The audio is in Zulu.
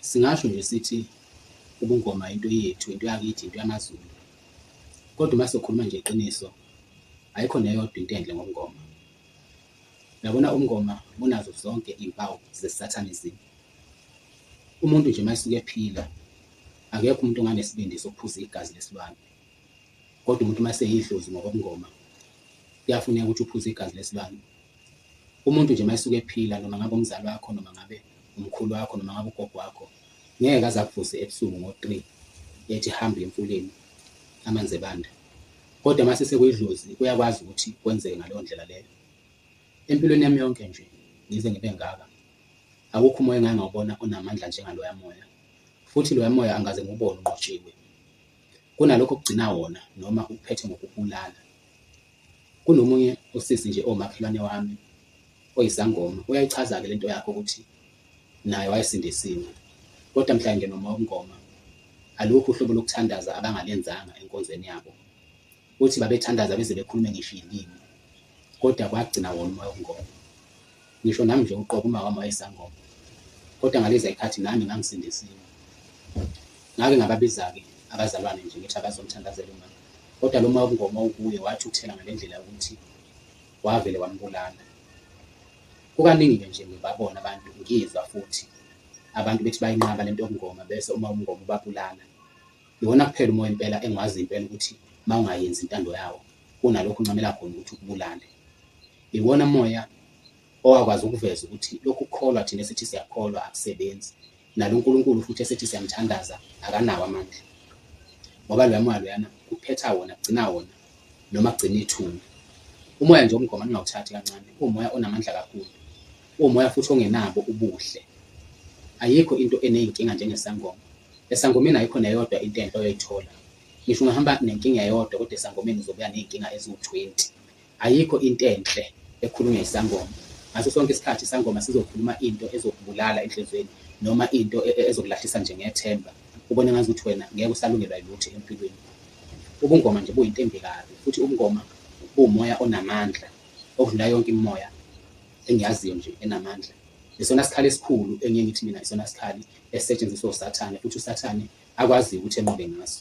Singasho nje sithi ubungoma into yethu, into yakithi, into yamaZulu. Kodwa uma sokhuluma nje iqiniso, ayikho neyodwa into enhle ngobungoma. Yabona ubungoma bunazo zonke iy'mpawu ze-satanism. Umuntu nje uma esuke ephila, akekho umuntu onganesibindi sokuphuza igazi lesilwane. Kodwa umuntu uma eseyidlozi ngokobungoma, kuyafuneka ukuthi uphuze igazi lesilwane Umuntu nje uma esuke ephila noma ngabe umzali wakho noma ngabe umkhulu wakho noma ngabe ugogo wakho ngeke aze akuvuse ebusuku ngo 3 ethi hamba uye emfuleni amanzi ebanda. Kodwa uma sesekuyidlozi kuyakwazi ukuthi kwenzeke ngaleyo ndlela leyo. Empilweni yami yonke nje ngize ngibe ngaka akukho umoya engake ngawubona onamandla njengaloya moya futhi loya moya angaze ngiwubone unqotshiwe. Kunalokho okugcina wona noma ukuphethe ngokukubulala. Kunomunye usisi nje owumakhelwane wami oyisangoma uyayichaza-ke lento yakho ukuthi naye wayesindisiwe kodwa mhla engena umoya wobungoma alukho uhlobo lokuthandaza abangalenzanga enkonzweni yabo. Uthi babethandaza beze bekhulume ngisho iy'limi kodwa kwagcina wona umoya wobungoma. Ngisho nami nje uqobo umawami wayesangoma kodwa ngaliza ikhathi nami ngangisindisiwe. Ngake ngababizake abazalwane nje ngithi abazomthandazela umama kodwa lo ma ubungoma ukuye wathi ukuthela ngale ndlela yokuthi wavele wambulala. Kukaningi-ke nje ngibabona abantu ngizwa futhi abantu bethi bayinqaba le nto yobungoma bese uma ubungoma ubabulala. Iwona kuphela umoya impela engiwaziyo impela ukuthi mawungayenzi intando yawo kunalokho uncamela khona ukuthi ukubulale. Iwona moya owakwazi ukuveza ukuthi lokhu kukholwa thina esithi siyakholwa akusebenzi, nalo uNkulunkulu futhi esithi siyamthandaza akanawo amandla. Ngoba loya moya loyana kuphetha wona kugcina wona noma kugcina ithuna. Umoya nje omgoma ningawuthathi kancane, uwumoya onamandla kakhulu. Uwumoya futhi ongenabo ubuhle. Ayikho into eneyinkinga njengesangoma Esangomeni ayikho neyodwa into enhle oyoyithola. Ngisho ungahamba nenkinga eyodwa kodwa esangomeni uzobuya ney'nkinga eziwu-20. Ayikho into enhle ekhulunywa yisangoma. Ngaso sonke isikhathi isangoma sizokhuluma into ezokubulala enhliziyweni noma into e, e, ezokulahlisa nje ngethemba, ubone ngazuthi wena ngeke usalungelwa yilutho empilweni. Ubungoma nje buyinto embi kabi, futhi ubungoma buwumoya onamandla okudlula yonke imimoya engiyaziyo nje enamandla. Isona sikhali esikhulu engiye ngithi mina isona sikhali esisetshenziswa uSathane futhi uSathane akwaziyo ukuthi enqobe ngaso.